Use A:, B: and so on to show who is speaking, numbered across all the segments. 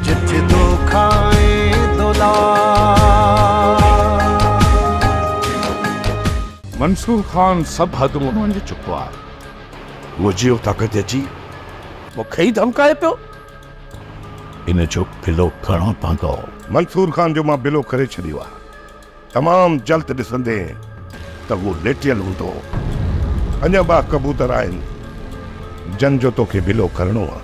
A: جت دو کائين دولار. منصور خان سڀ حدون اڻوڃي چڪو آهي. مجي
B: اتان کان ججي مون کي ئي
A: ڌمڪائي پيو.
B: ان جو بلو ڪرڻو پوندو. منصور خان جو
C: مان بلو ڪري ڇڏيو آهي. تمام جلد ڏسندين ته هو ليٽيل هوندو. اڃا ٻه ڪبوتر آهن جن جو توکي بلو ڪرڻو آهي.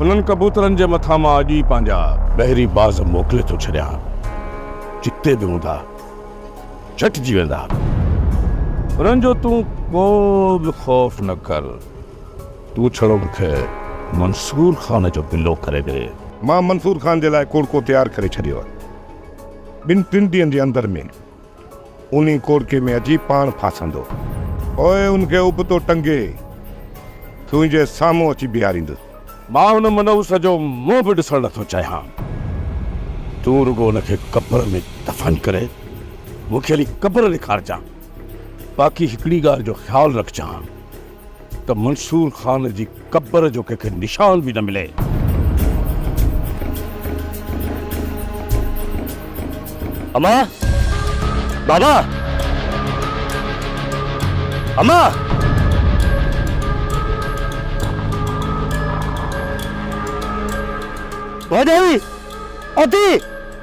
C: انهن ڪبوترن جي مٿان مان اڄ ئي پنهنجا ٻهري باز موڪلي ٿو ڇڏيان، جتي به هوندا، جهٽجي ويندا. انهن جو تون ڪو به خوف نه ڪر. تون ڇڙو مون کي منصور خان جو بلو ڪري ڏي. مان منصور خان جي لاء ڪوڙڪو تيار ڪري ڇڏيو آهي. ٻن ٽن ڏينهن جي اندر ۾ انهي ڪوڙڪي ۾ اچي پاڻ ڦاسندو. پوء ان کي ابتو ٽنگي تنهنجي سامهون اچي بيهاريندس. مان ان منحوس جو منهن به ڏسڻ نٿو چاهيان. تون رڳو ان کي قبر ۾ دفن ڪري مون کي هلي قبر ڏيکارجان. باقي هڪڙي ڳالهه جو خيال رکجان. ته منصور خان جي قبر جو ڪنهن کي نشان به نه ملي.
D: امان! بابا! امان! ڀوڄائي! اٿي!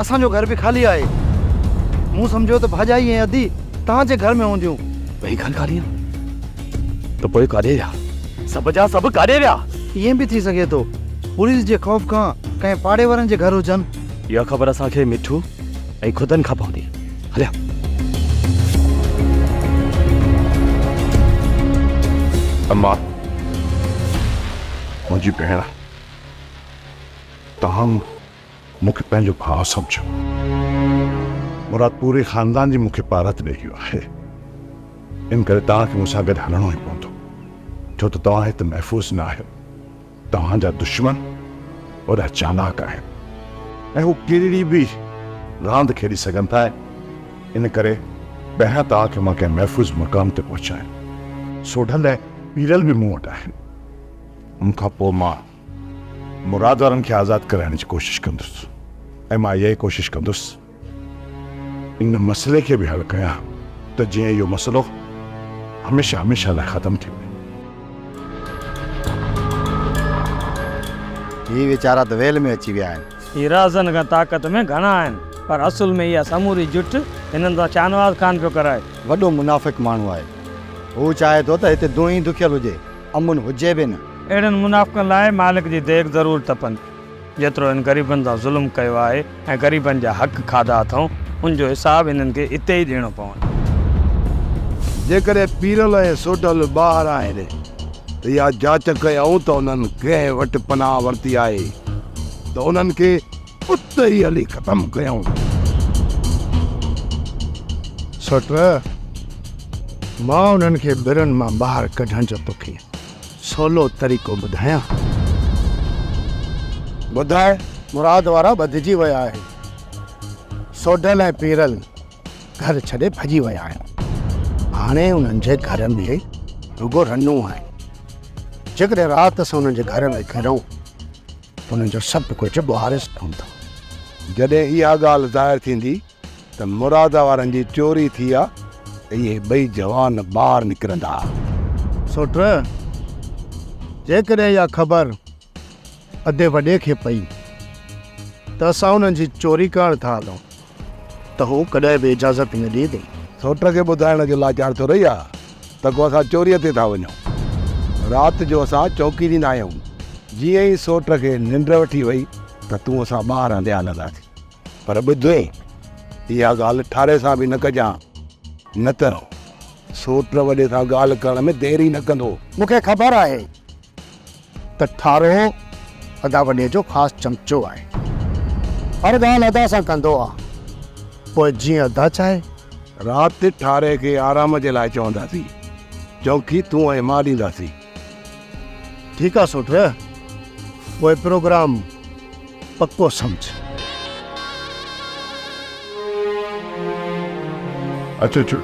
D: اسان جو گهر به خالي آهي. مون سمجهيو ته ڀاڄائي ۽ ادي توهان جي گهر ۾ هونديون. ٻئي گهر خالي آهن ته پوء ڪاڏي ويا؟ سڀ جا سڀ ڪاڏي ويا؟ ائين به ٿي سگهي ٿو پوليس جي خوف کان ڪنهن پاڙي وارن جي گهر هجن. اها خبر اسان کي مٺو ۽ خدن کان پوندي. هليا. اما،
C: منهنجي ڀيڻ، توهان مون. مون کي پنهنجو ڀاء سمجهيو. مراد پوري خاندان جي مون کي پارت ڏئي ويو آهي. ان ڪري توهان کي مون سان گڏ هلڻو ئي پوندو. ڇو ته توهان هت محفوظ نه آهيو. توهان جا دشمن وڏا چالاڪ آهن ۽ هو ڪهڙي به راند کيڏي سگهن ٿا ان ڪري پهريان توهان کي مان ڪنهن محفوظ مقام تي پهچايان. سوڍل ۽ پيرل به مون وٽ آهن. ان کان پوء مان مراد وارن کي آزاد ڪرائڻ جي ڪوشش ڪندس ۽ مان اها ئي ڪوشش ڪندس ان مسئلي کي به حل ڪيان ته جيئن اهو مسئلو هميشه هميشه لاء ختم ٿي وڃي.
E: هي ويچارا ته ويل ۾ اچي ويا آهن. هي رهزن کان طاقت
F: ۾ گهڻا آهن پر اصل ۾ اها سموري جٺ هنن سان شاهنواز خان پيو ڪرائي. وڏو منافق
E: ماڻهو آهي. هو چاهي ٿو ته هتي دونهين دکيل هجي امن هجي به نه. اهڙن منافقن لاء
F: مالڪ جي ديڳ ضرور تپندي. جيترو هن غريبن سان ظلم ڪيو آهي ۽ غريبن جا حق کاڌا اٿئون، ان جو حساب هنن کي اتي ئي ڏيڻو پوندو.
B: جيڪڏهن پيرل ۽ سوڍل ٻاهر آهن ته اها جاچ ڪيائون ته انهن ڪنهن وٽ پناهه ورتي آهي ته انهن کي. اتي ئي هلي ختم ڪيائون.
E: سؤٽ، مان انهن کي برن مان ٻاهر ڪڍڻ جو توکي سولو طريقو ٻڌايان. ٻڌاء، مراد وارا ٻڌجي ويا آهن. سوڍل ۽ پيرل گهر ڇڏي ڀڄي ويا آهن. هاڻي انهن جي گهر ۾ رڳو رنون آهن. جيڪڏهن رات اسان انهن جي گهر ۾ گهڙون انهن جو سڀ ڪجهه ٻهاريس پوندو. جڏهن
B: اها ڳالهه ظاهر ٿيندي ته مراده وارن جي چوري ٿي آ ته اهي ٻئي جوان ٻاهر نڪرندا. سوٽ،
E: جيڪڏهن اها خبر اڌي وڏي کي پئي ته اسان انهن جي چوري ڪرڻ ٿا هلون. ته هو ڪڏهن به اجازت نه ڏئي ٿي. سوٽ کي ٻڌائڻ
B: جو لاچار ٿو رهي ها ته ڪو اسان چوريء تي ٿا وڃون. رات جو اسان چوڪي ڏيندا آهيون. جيئن ئي سوٽ کي ننڊ وٺي وئي ته تون اسان ٻاهر هنڌي هلنداسين. پر ٻڌ، اها ڳالهه ٺاري سان به نه ڪجان، نه ته سوٽ وڏي سان ڳالهه ڪرڻ ۾ دير ئي نه ڪندو. مون کي خبر آهي.
E: ته ٺارو ادا وڏي جو خاص چمچو آهي. هر ڳالهه ادا سان ڪندو آ. پوء جيئن ادا چاهي. رات
B: ٺاري کي آرام جي لاء چونداسين. چونڪي تون ۽ مان ڏينداسين.
E: ٺيڪ آ سوٽ. پوء پروگرام. پڪو سمجهه.
C: اچو اچو.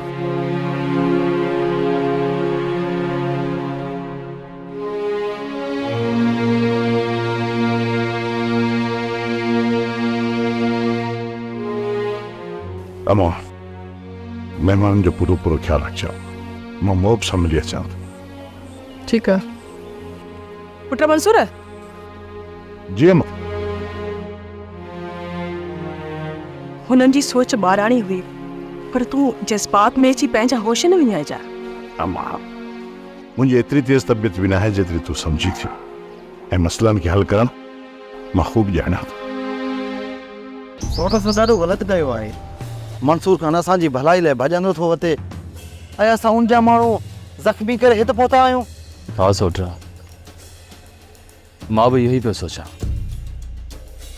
C: اوهان مهمانن جو پورو پورو خيال رکجو. مان محب سان ملي اچان ٿو. ٺيڪ
G: آ پٽ منصور.
C: جي م.
G: هنن جي سوچ ٻاراڻي هئي پر تون جذبات ۾ اچي پنهنجا هوش نه وڃائجا. اما
C: منهنجي ايتري تيز طبيعت به ناهي جيتري تون سمجهين ٿيون ۽ مسئلن کي حل ڪرڻ مان خوب ڄاڻان ٿو. سوٽ اسان
D: ڏاڍو غلط ڪيو آهي. منصور خان اسان جي ڀلائي لاء ڀڄندو ٿو اچي ۽ اسان ان جا ماڻهو زخمي ڪري هت پهتا آهيون. ها سوٽ.
H: مان به اهو ئي پيو سوچان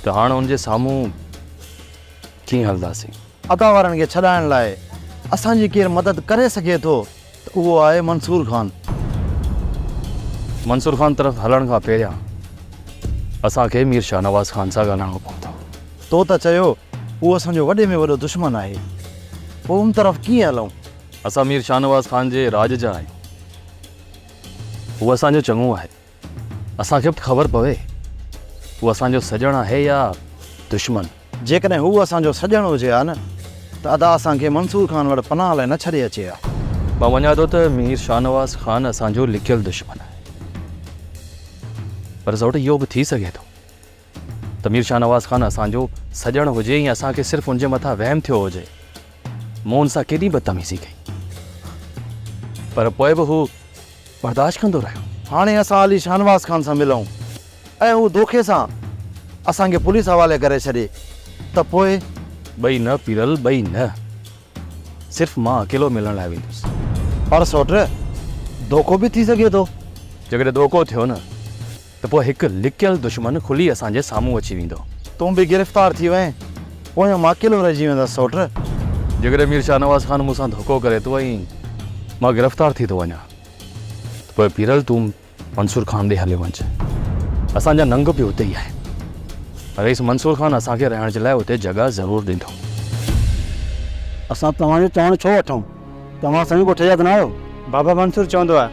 H: ته هاڻ ان جي سامهون ڪيئن هلنداسين. عطا وارن کي
D: ڇڏائڻ لاء اسان جي ڪير مدد ڪري سگهي ٿو ته اهو آهي منصور خان.
H: منصور خان طرف هلڻ کان پهريان اسان کي مير شاهنواز خان سان ڳالهائڻو پوندو. تو ته چيو
D: اهو اسان جو وڏي ۾ وڏو دشمن آهي پوء ان طرف ڪيئن هلون؟ اسان مير
H: شاهنواز خان جي راڄ جا آهيون هو اسان جو چڱو آهي، اسان کي به ته خبر پوي هو اسان جو سڄڻ آهي يا دشمن. جيڪڏهن هو
D: اسان جو سڄڻ هجي ها نه ته ادا اسان کي منصور خان وٽ پناهه لاء نه ڇڏي اچي ها. مان مڃان ٿو ته
H: مير شاهنواز خان اسان جو لڪيل دشمن آهي، پر زئوٽ اهو به ٿي سگهي ٿو. ته مير شاهنواز خان اسان جو سڄڻ هجي ۽ اسان کي صرف ان جي مٿان وهم ٿيو هجي. مون ان سان ڪيڏي بدتميزي ڪئي. پر پوء به هو برداشت ڪندو رهيو. هاڻي اسان علي
D: شاهنواز خان سان ملئون ۽ هو دوکي سان اسان کي پوليس حوالي ڪري ڇڏي ته پوء؟ ٻئي نه
H: پيرل، ٻئي نه. صرف مان اڪيلو ملڻ لاء ويندس. پر سوٽ،
D: دوکو به ٿي سگهي ٿو. جيڪڏهن دوکو
H: ٿيو نه ته پوء هڪ لڪيل دشمن کلي اسان جي سامهون اچي ويندو. تون به گرفتار
D: ٿي وئين، پويان مان اڪيلو رهجي ويندس سوٽ. جيڪڏهن مير
H: شاهنواز خان مون سان ڌوڪو ڪري ٿو ۽ مان گرفتار ٿي ٿو وڃان ته پوء پيرل تون منصور خان ڏي هليو وڃج. اسان جا ننگ به اتي ئي آهن. رئيس منصور خان اسان کي رهڻ جي لاء اتي جڳهه ضرور ڏيندو. اسان
E: توهان جو چوڻ ڇو وٺون؟ توهان سوين ڳوٺ جا ته نه آهيو؟ بابا منصور
F: چوندو آهي،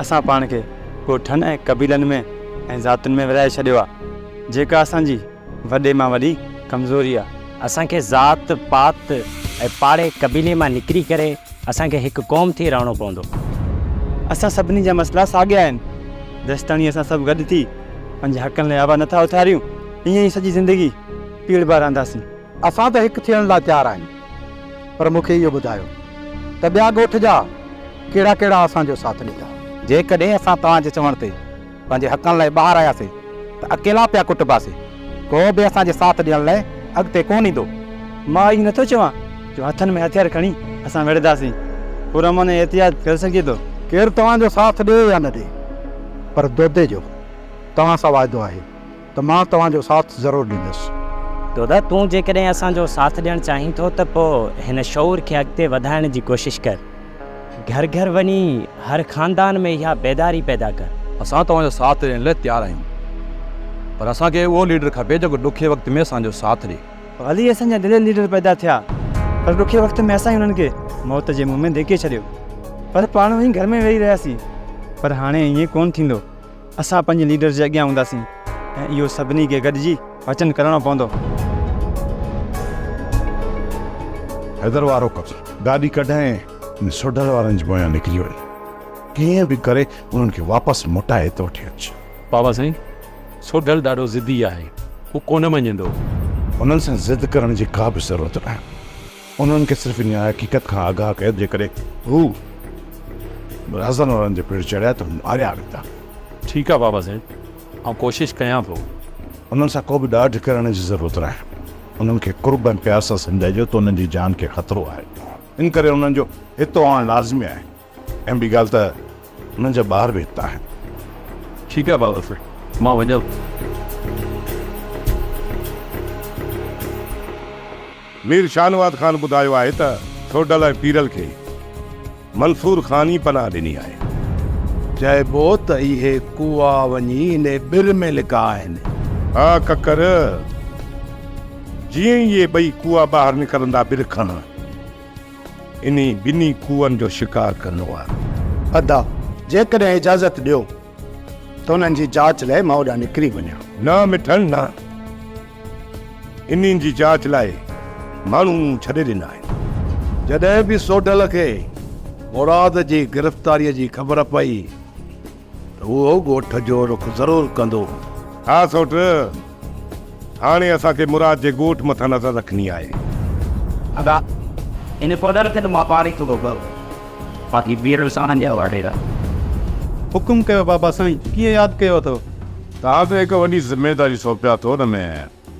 F: اسان پاڻ کي ڳوٺن ۽ قبيلن ۾ ۽ ذاتن ۾ ورهائي ڇڏيو آهي، جيڪا اسان جي وڏي مان وڏي ڪمزوري آهي. اسان کي ذات
I: پات ۽ پاڙي قبيلي مان نڪري ڪري اسان کي هڪ قوم ٿي رهڻو پوندو. اسان
F: سڀني جا مسئلا ساڳيا آهن، جيستاڻي اسان سڀ گڏ ٿي پنهنجي حقن لاء آواز نٿا اٿاريون، ايئن ئي سڄي زندگي پيڙهبا رهنداسين. اسان ته هڪ
E: ٿيڻ لاء تيار آهيون. پر مون کي اهو ٻڌايو ته ٻيا ڳوٺ جا ڪهڙا ڪهڙا اسان جو ساٿ ڏيندا. جيڪڏهن اسان
J: توهان جي چوڻ تي پنهنجي حقن لاء ٻاهر آياسين ته اڪيلا پيا ڪٽباسين. ڪو به اسان جي ساٿ ڏيڻ لاء اڳتي ڪونه ايندو. مان اهو نٿو
F: چوان جو هٿن ۾ هٿيار کڻي اسان وڙهنداسين. پرامن ۽ احتياط ڪري سگهجي ٿو. ڪير توهان جو ساٿ
E: ڏي يا نه ڏي پر دودي جو توهان سان واعدو آهي. ته مان توهان جو ساٿ ضرور ڏيندس. دادا تون
I: جيڪڏهن اسان جو ساٿ ڏيڻ چاهين ٿو ته پوء هن شعور کي اڳتي وڌائڻ جي ڪوشش ڪر. گهر گهر وڃي هر خاندان ۾ اها بيداري پيدا ڪر. اسان توهان جو ساٿ
H: ڏيڻ لاء تيار آهيون پر اسان کي اهو ليڊر کپي جيڪو ڏکي وقت ۾ اسان جو ساٿ ڏي. ڀلي اسان جا
F: دلير ليڊر پيدا ٿيا پر ڏکي وقت ۾ اسان ئي انهن کي موت جي منهن ۾ ڌڪي ڇڏيو
J: پر پاڻ وڃي گهر ۾ ويهي رهياسين پر هاڻي ائين ڪونه ٿيندو. اسان پنهنجي ليڊرز جي اڳيان هونداسين ۽ اهو سڀني کي گڏجي وچن ڪرڻو پوندو.
C: حيدر وارو ڪم. گاڏي ڪڍائين ۽ سوڍل وارن جي پويان نڪري وڃ. ڪيئن به ڪري انهن کي واپس موٽائي ته وٺي اچ. بابا سائين،
H: سوڍل ڏاڍو ضدي آهي. هو ڪونه مڃيندو. انهن سان
C: ضد ڪرڻ جي ڪا به ضرورت ناهي. انهن کي صرف انهيء حقيقت کان آگاهه ڪيو ته جيڪڏهن هو رهزن وارن جي پٺ چڙهيا ته هو ماريا ويندا. ٺيڪ آ بابا
H: سائين آئون ڪوشش ڪيان ٿو. انهن سان ڪو به
C: ڏاڍ ڪرڻ جي ضرورت ناهي. انهن کي قرب ۽ پيار سان سمجهائجو ته انهن جي جان کي خطرو آهي. ان ڪري انهن جو هتو آڻڻ لازمي آهي. ۽ ٻي ڳالهه ته هنن جا ٻار به هت آهن. ٺيڪ
H: آهي بابا سائين مان وڃان ٿو.
B: مير شاهنواز خان ٻڌايو آهي ته سوڍل ۽ پيرل کي منصور خان ئي پناهه ڏني آهي. چئبو ته اهي ڪوئا وڃي انهي ٻر ۾ لڪا آهن. ها ڪڪر، جيئن ئي اهي ٻئي ڪوئا ٻاهر نڪرندا ٻر کان. انهي ٻنهي کوهن جو شڪار ڪندو آهي. ادا!
E: جيڪڏهن اجازت ڏيو ته انهن جي جاچ لاء مان اوڏانهن نڪري وڃان. نه مٺڻ نه.
B: انهن جي جاچ لاء ماڻهو مون ڇڏي ڏنا آهن. جڏهن به سوڍل کي مراد جي گرفتاريء جي خبر پئي. هو ڳوٺ جو رخ ضرور ڪندو. ها سوٽ، هاڻي اسان کي مراد جي ڳوٺ مٿان نظر رکڻي آهي. ادا،
I: ان پڌر تي ته مان پاڻ ئي ٿورو ڀرو، باقي ٻير ساڻن جا هئا ڍيرا. حڪم
J: ڪيو بابا سائين، ڪيئن ياد ڪيو اٿئو؟ توهان تي هڪ
C: وڏي ذميواري سونپي اٿو، ان ۾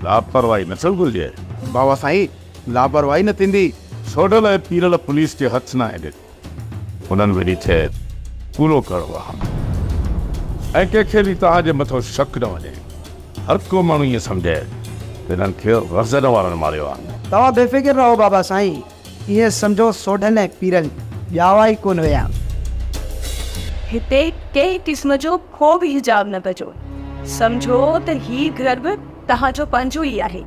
C: لاپرواهي نه ٿيڻ گهرجي. بابا سائين،
E: لاپرواهي نه ٿيندي. سوڍل ۽ پيرل
C: پوليس جي هٿ ناهي ڏني. هنن ويڙهي چيس، ڪوڙو ڪر وهام ۽ ڪنهن کي به توهان جي مٿو شڪ نه وڃي. هر ڪو ماڻهو ائين سمجهي ته هنن کي غزل وارن ماريو آهي. توهان بي فڪر رهو
K: بابا سائين، ائين سمجهو سوڍن ۽ پيرن ڄاوا ئي ڪونه ويا.
G: هتي ڪنهن قسم جو ڪو به حجاب نه ڪجو. سمجهو ته هي گهر به توهان جو پنهنجو ئي آهي.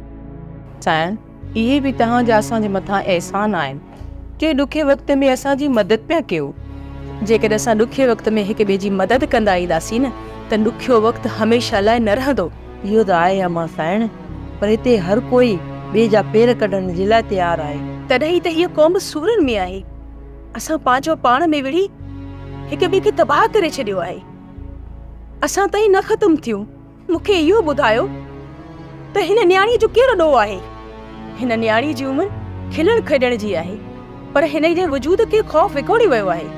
G: سائين
L: اهي به توهان جا اسان جي مٿان احسان آهن، جي ڏکي وقت ۾ اسان جي مدد پيا ڪيو. جيڪڏهن اسان
G: ڏکي وقت ۾ هڪ ٻئي جي مدد ڪندا اينداسين نه ته ڏکيو وقت هميشه لاء نه رهندو. اهو ته آهي امان
L: سائڻ، پر هتي هر ڪوئي ٻئي جا پير ڪڍڻ جي لاء تيار آهي. تڏهن ئي ته هيء قوم
G: سورن ۾ آهي. اسان پنهنجو پاڻ ۾ وڙهي هڪ ٻئي کي تباهه ڪري ڇڏيو آهي. اسان تائين نه ختم ٿيون. مون کي اهو ٻڌايو ته هن نياڻيء جو ڪهڙو ڏوهه آهي؟ هن نياڻيء جي عمر کلڻ کيڏڻ جي آهي، پر هن جي وجود کي خوف وڪوڙي ويو آهي.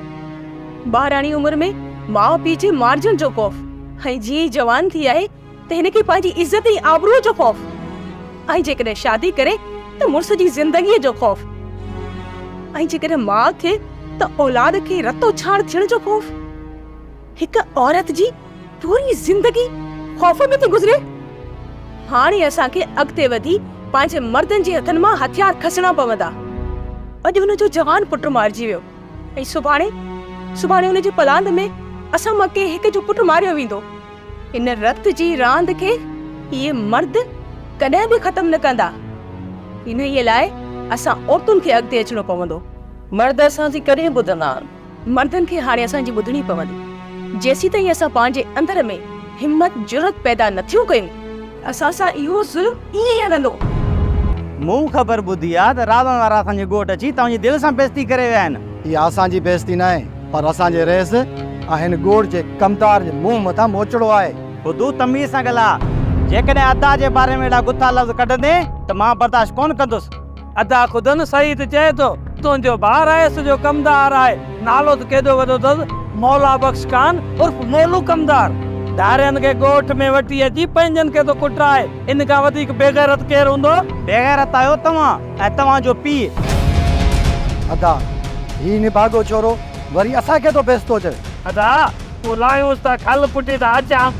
G: ٻارڙاڻي عمر ۾ ماء پيء جي مارجڻ جو خوف ۽ جيئن ئي جوان ٿي آهي ته هن کي پنهنجي عزت ۽ آبروء جو خوف ۽ جيڪڏهن شادي ڪري ته مڙس جي زندگيء جو خوف ۽ جيڪڏهن ماء ٿئي ته اولاد کي رتو ڇاڻ ٿيڻ جو خوف. هڪ عورت جي پوري زندگي خوف ۾ ٿي گذري. هاڻي اسان کي اڳتي وڌي پنهنجي مردن جي هٿن مان هٿيار کسڻا پوندا. اڄ هن جو جوان پٽ مارجي ويو ۽ سڀاڻي سڀاڻي هن جي پلاند ۾ اسان مان ڪنهن هڪ جو پٽ ماريو ويندو. ان رت جي راند کي اهي مرد ڪڏهن به ختم نه ڪندا. انهيء لاء اسان عورتن کي اڳتي اچڻو پوندو. مرد اسان
L: جي ڪڏهن ٻڌندا؟ مردن کي
G: هاڻي اسان جي ٻڌڻي پوندي، جيسيتائين اسان پنهنجي اندر ۾ همت جرئت پيدا نه ٿيون ڪيون، اسان سان اهو ظلم ائين ئي هلندو. مون
J: خبر ٻڌي آ ته راوڻ وارا اسان جي ڳوٺ اچي توهان جي دل سان بيعزتي ڪري ويا آهن. اها اسان جي بيعزتي
E: ناهي پر اسان جي رئيس ۽ هن ڳوٺ جي ڪمدار جي منهن مٿان موچڙو آهي. بدو تميز سان
J: ڳالهاء. جيڪڏهن ادا جي باري ۾ اهڙا گٿا لفظ ڪڍندين ته مان برداشت ڪونه ڪندس. ادا خدن
F: سعيد چئي ٿو تنهنجو بار آيس جو ڪمدار آهي نالو ته ڪيڏو وڏو اٿس مولا بخش خان عرف مولو ڪمدار ڌارين کي ڳوٺ ۾ وٺي اچي پنهنجن کي ٿو ڪٽرائي ان کان وڌيڪ بيغيرت ڪير هوندو. بيغيرت آهيو
J: توهان ۽ توهان جو پيء.
E: ادا هي نڀاڳو ڇورو وري اسان کي ٿو بيستو چئي. ادا پوء
F: لاهيونس ته کل پٽي ته اچان.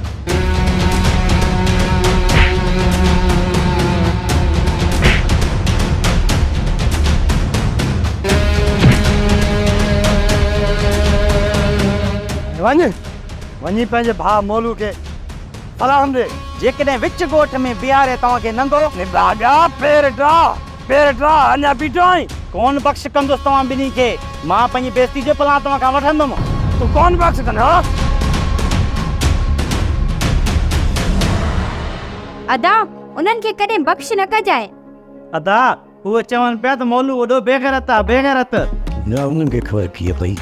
E: وڃ، وڃي پنهنجي ڀاء مولو کي سلام ڏي. جيڪڏهن وچ ڳوٺ
J: ۾ بيهاري توهان
F: کي
J: ننگو.
F: نڀاڳا پير
J: ڊاهه. پير ٽراء
F: اڃا
J: بيٺو
F: آهين؟
D: ڪونه بخش ڪندس توهان ٻنهي کي. مان پنهنجي بيستي جو پلان توهان کان وٺندم. تون ڪونه بخش
F: ڪندين ها؟
M: ادا، انهن کي ڪڏهن بخش نه ڪجانء. ادا،
D: اهي چون پيا ته مولو وڏو بيغيرت آهي، بيغيرت. نه انهن کي
C: خبر ڪيئن پئي.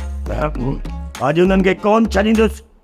C: اڄ انهن کي ڪونه ڇڏيندس.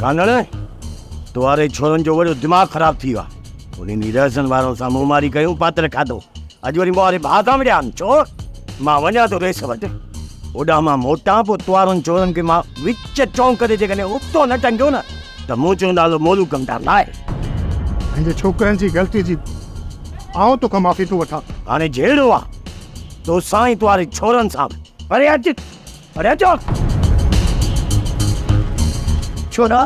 C: گانڌڻ تواري ڇورن جو وڏو دماغ خراب ٿي ويو آ انهن جي رهزن وارن سان منهن ماري ڪيون پاتر کاڌو اڄ وري مواري ڀاء سان وڙيا آن چور مان وڃان ٿو ريس وٽ اوڏانهن مان موٽان پوء توارن چورن کي مان وچ چونڪ تي جيڪڏهن ابتو نه ٽنگيو نه ته منهنجو نالو مولو ڪمدار نه آهي. پنهنجي
E: ڇوڪرن جي غلطي جي آئون توکان معافي ٿو وٺان. هاڻي جهيڙو آ
C: تو سان ۽ توهاري ڇورن سان به. پري هٽ! پري هٽ!
F: ڇورا،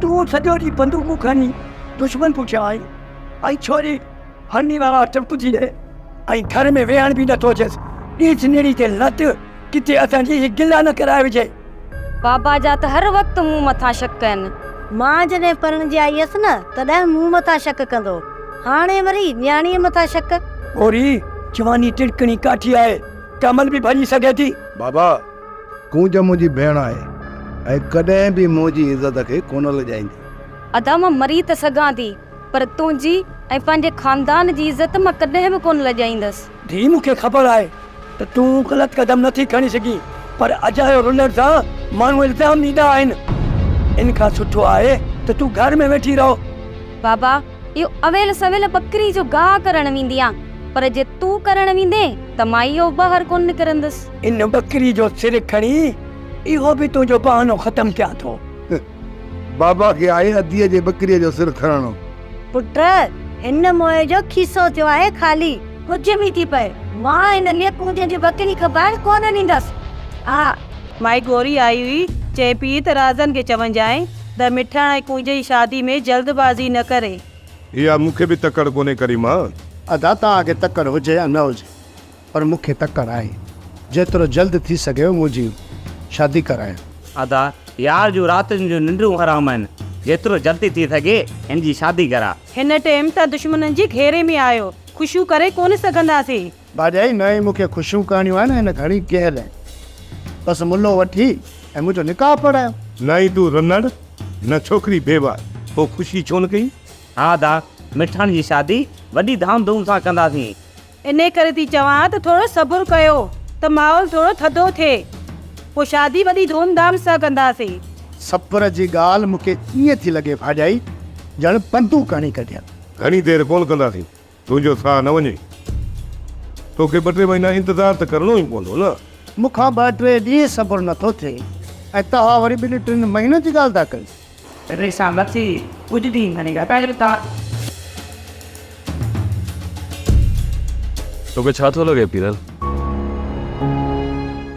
F: تون سڄو ڏينهن بندوقون کڻي دشمن پٺيان آهين ۽ ڇوري هرني وارا ٽپجي هي ۽ گهر ۾ ويهڻ به نه ٿو اچيس. ڏيس نيڻي تي لت، ڪٿي اسان جي هي گلا نه ڪرائي وجهي. بابا جا
M: ته هر وقت مون مٿان شڪ ڪن. مان جڏهن پرڻجي آئي هيس نه تڏهن مون مٿان شڪ ڪندو هاڻي وري نياڻيء مٿان شڪ. پورهيي،
F: جواني ٽڙڪڻي ڪاٺي آهي، ڪامل به ڀڃي سگهي ٿي. بابا،
B: ڪونج منهنجي ڀيڻ آهي ۽ ڪڏهن به منهنجي عزت کي ڪونه لڄائيندي. ادا مان
M: مري ته سگهان ٿي پر تنهنجي ۽ پنهنجي خاندان جي عزت مان ڪڏهن به ڪونه لڄائيندس. ڌيء مون کي خبر
F: آهي ته تون غلط قدم نه ٿي کڻي سگهين پر اجايو رلڻ سان ماڻهو الزام ڏيندا آهن. ان کان سٺو آهي ته تون گهر ۾ ويٺي رهو. بابا
M: اهو اويل سويل ٻڪري جو گاهه ڪرڻ ويندي آن پر جي تون ڪرڻ ويندين ته مان اهو ٻاهر ڪونه نڪرندس. ان ٻڪري جو
F: سر کڻي اهو به تنهنجو بهانو ختم ڪيان ٿو. بابا
B: کي آهي اديء جي ٻڪريء جو سر کڻڻو. پٽ!
M: هن موئي جو کيسو ٿيو آهي خالي. ڪجهه به ٿي پئي، مان هن لئه ڪونجهه جي ٻڪري کٻائڻ ڪونه ڏيندس. آء. مائي گوري
L: آئي هئي، چئي پيئي ته رازن کي چونجانء ته مٺاڻ ۽ ڪونجهه جي شادي ۾ جلد بازي نه ڪري. اها مون کي
C: به تڪڙ ڪونهي ڪريما. ادا توهان کي
E: تڪڙ هجي يا نه هجي، پر مون کي تڪڙ آهي. جيترو جلد ٿي سگهيو منهنجي شادي ڪرايو. ادا
J: يار جون راتين جون ننڊون حرام آهن جيترو جلدي ٿي سگهي هن جي شادي ڪرا. هن ٽيم ته
L: دشمنن جي گهيري ۾ آهيو خوشيون ڪري ڪونه سگهنداسين. ڀاڄائي نه مون
E: کي خوشيون ڪرڻيون آهن هن گهڻي ڪيهه لئي بس ملو وٺي ۽ منهنجو نڪاح پڙهايو. نائين تون رنڙ
C: نه ڇوڪري بيواه پوء خوشي ڇو نه ڪئي. ها ادا
J: مٺاڻ جي شادي وڏي ڌام ڌوم سان ڪنداسين انهيء ڪري ٿي
L: چوان ته ٿورو صبر ڪيو ته ماحول ٿورو ٿڌو ٿئي، پوء شادي وڏي ڌوم ڌام سان ڪنداسين. صبر جي
E: ڳالهه مون کي ائين ٿي لڳي ڀاڄائي، ڄڻ پندون ڪڻي ڪڍين. گهڻي دير ڪونه
C: ڪنداسين، تنهنجو ساهه نه وڃي. توکي ٻه ٽي مهينا انتظار ته ڪرڻو ئي پوندو نه. مون کان ٻه ٽي
E: ڏينهن صبر نٿو ٿئي ۽ توهان وري ٻن ٽن مهينن جي ڳالهه ٿا ڪيو.
L: چٽڻي سان
H: مٿي ڪجهه به هڻي لڳايو ٿا. توکي ڇا ٿو لڳي پيرل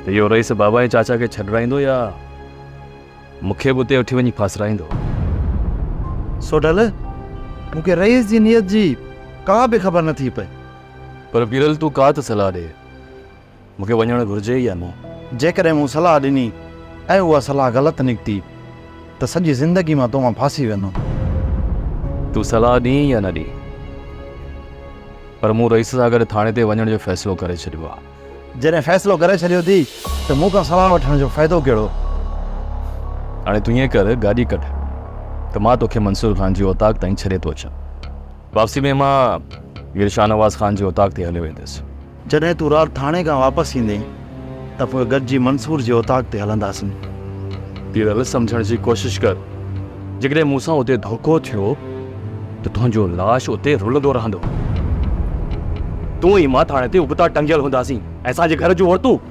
H: ته اهو رئيس بابا ۽ چاچا کي ڇڏرائيندو يا مون کي به اتي وٺي وڃي ڦاسرائيندو؟
D: سوڍل، مون کي رئيس جي نيت جي ڪا به خبر نه ٿي پئي. پر پيرل
H: تون ڪا ته صلاح ڏي. مون کي وڃڻ گهرجي يا نه؟ جيڪڏهن مون صلاح
D: ڏني ۽ اها صلاح غلط نڪتي ته سڄي زندگي مان تو مان ڦاسي ويندم.
H: تون صلاح ڏين يا نه ڏين پر مون رئيس سان گڏ ٿاڻي تي وڃڻ جو فيصلو ڪري ڇڏيو آهي. جڏهن فيصلو ڪري ڇڏيو
D: اٿي ته مون کان صلاح وٺڻ جو فائدو ڪهڙو؟
H: هاڻي تون ائين ڪر گاڏي ڪڍ ته مان توکي منصور خان جي اوطاق تائين ڇڏي ٿو اچان. واپسي ۾ مان مير شاهنواز خان جي اوطاق تي هليو ويندس. جڏهن تون رات
D: ٿاڻي کان واپس ايندين ته پوء گڏجي منصور جي اوطاق تي هلنداسين. پيرل
H: سمجهڻ جي ڪوشش ڪر. جيڪڏهن مون سان اتي ڌوڪو ٿيو ته تنهنجو لاش اتي رلندو رهندو. تون ۽ مان ٿاڻي تي ابتا ٽنگيل هونداسين ۽ اسان جي گهر جون عورتون.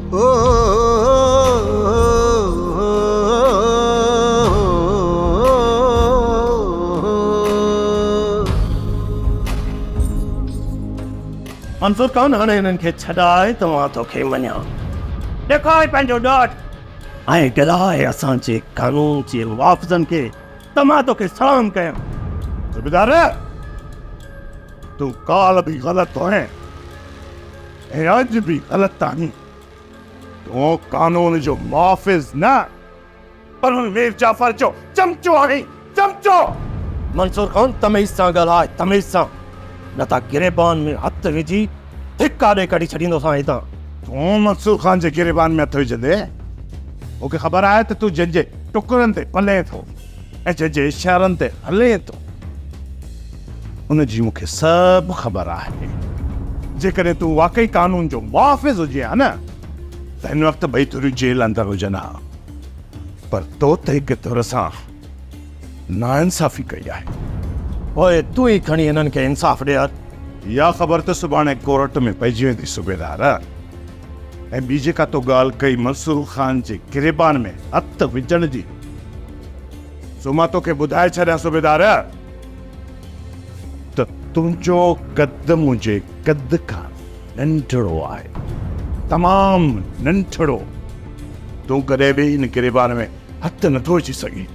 F: منظور خان هاڻي هنن کي ڇڏائي ته مان توکي مڃان. ڏيکار پنهنجو ڏاڍ ۽ ڳلهائي اسان جي قانون جي محافظن کي ته مان توکي سلام ڪيان. صوبيدار!
B: تون ڪالهه به غلط هئين. ۽ اڄ به غلط آهين. تون قانون جو محافظ نه پر مير جعفر جو چمچو آهين، چمچو! منصور
F: خان تميز سان ڳالهاء، تميز سان، نه ته گريبان ۾ هٿ وجهي ڌڪا ڏئي ڪڍي ڇڏيندوسان هتان. تون منصور
B: خان جي گريبان ۾ هٿ وجهندين؟ مون کي خبر آهي ته تون جنهن جي ٽڪرن تي پلين ٿو. اچ جي اشارن تي هلي ٿو ان جي مون کي سڀ خبر آهي. جيڪڏهن تون واقعي قانون جو محافظ هجين ها نه ته هن وقت ٻئي ڌريون جيل اندر هجن ها پر تو ته هڪ ڌر سان ناانصافي ڪئي آهي. پوء
F: تون ئي کڻي هنن کي انصاف ڏي ها يا خبر
B: ته سڀاڻي ڪورٽ ۾ پئجي ويندي صوبيدار. ۽ ٻي جيڪا تو ڳالهه ڪئي منصور خان جي گريبان ۾ هٿ وجهڻ جي، سو مان توکي ٻڌائي ڇڏيان صوبيدار ته تنهنجو قد منهنجي قد کان ننڍڙو آهي، تمام ننڍڙو. تون ڪڏهن به هن گريبان ۾ هٿ نٿو وجهي سگهين.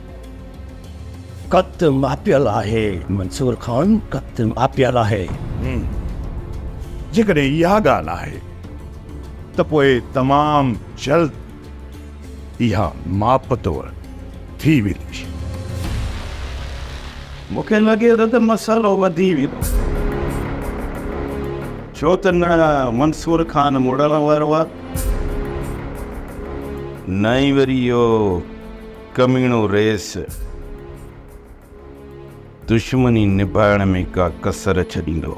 F: ڪت ماپيل آهي منصور خان ڪت ماپيل آهي. همم جيڪڏهن
B: اها ڳالهه آهي ته پوء تمام جلد اها ماپ توڙ ٿي ويندي.
F: مون کي لڳي ٿو ته مسئلو وڌي ويندو ڇو ته نه منصور خان مڙڻ وارو آهي نه ئي وري اهو ڪميڻو رئيس دشمني نباهڻ ۾ ڪا ڪسر ڇڏيندو.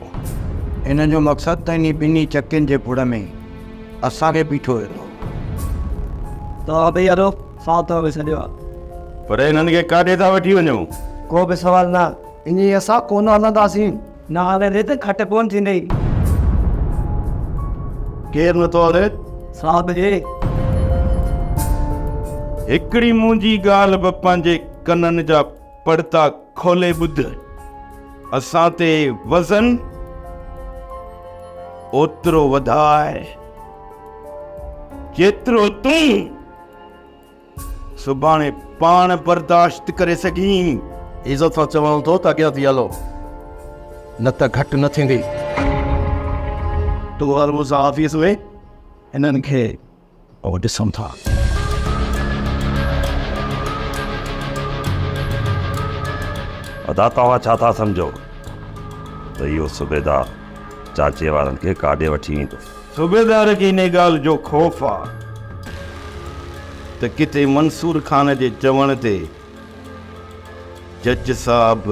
F: هن جو
K: مقصد ته انهي ٻنهي چڪين جي ڀڙ ۾ اسان کي بيٺو ويندو.
F: توهان ٻئي هلو، سائو توهان کي سڏيو آهي. پر هنن کي
C: ڪاڏي ٿا وٺي وڃو؟ ڪو به سوال
K: نه، انهي اسان ڪونه هلنداسين. نه هلي ريت کٽ ڪون ٿيندي.
F: ڪير نٿو هلي صاحب جي.
C: هڪڙي منهنجي ڳالهه به پنهنجي ڪنن جا پڙتا کولي ٻڌ. اسان تي وزن اوترو وڌاء جيترو تون. سڀاڻي پاڻ برداشت ڪري سگهين. عزت سان چوان
F: ٿو ته اڳيان ٿي هلو نه ته گهٽ نه ٿيندي. تون هل مون سان آفيس ۾، هنن کي پوء ڏسون ٿا.
C: ادا توهان ڇا ٿا سمجهو ته اهو صوبيدار چاچي وارن کي ڪاڏي وٺي ويندو. صوبيدار کي انهيء ڳالهه جو خوف آ ته ڪٿي منصور خان جي چوڻ تي جج صاحب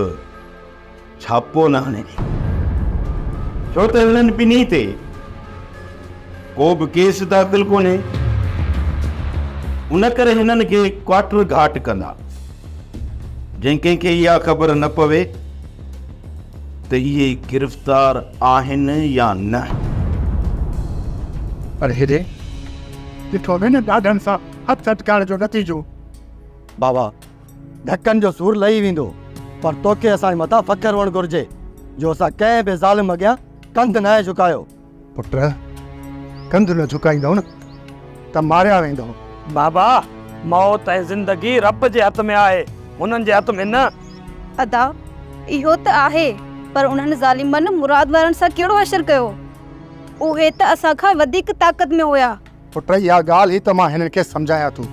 C: ڇاپو نه هڻي، ڇو ته هنن ٻنهي تي ڪو به ڪيس داخل ڪونهي، ان ڪري هنن کي ڪواٽر گهاٽ ڪندا، جنهن ڪنهن کي اها خبر نه پوي ته اهي گرفتار آهن يا نه.
E: پر هيڏي ڏٺو وين ڏاڍن سان هٿ اٽڪائڻ جو نتيجو. بابا!
D: ڌڪن جو سور لهي ويندو، پر توکي اسان جي مٿان فخر هئڻ گهرجي جو اسان ڪنهن به ظالم اڳيان ڪنڌ ناهي جهڪايو. پٽ!
E: ڪنڌ نه جهڪائيندؤ نه ته ماريا ويندؤ. بابا!
F: موت ۽ زندگي رب جي هٿ ۾ آهي، هنن جي هٿ ۾ نه. ادا!
M: اهو ته آهي، پر انهن ظالمن مراد وارن سان ڪهڙو حشر ڪيو؟ اهي ته اسان کان وڌيڪ طاقت ۾ هيا. پٽ! اها ڳالهه
E: ئي ته مان هنن کي سمجهايان ٿو.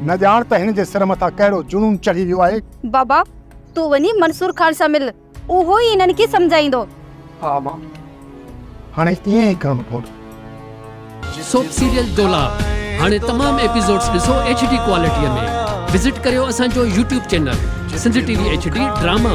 E: نه ڄاڻ ته هنن جي سر مٿان ڪهڙو جنون چڙهي ويو آهي. بابا!
M: تون وڃي منصور خان سان مل. اهو ئي انهن کي سمجهائيندو. ها ماء،
E: هاڻي ائين ئي ڪرڻو پوندو.
N: سوپ سيريل دولا هاڻي تمام ايپيسوڊز ڏسو ايڇ ڊي ڪوالٽيء ۾ وزٽ ڪريو اسان جو YouTube channel Sindh T V H D drama.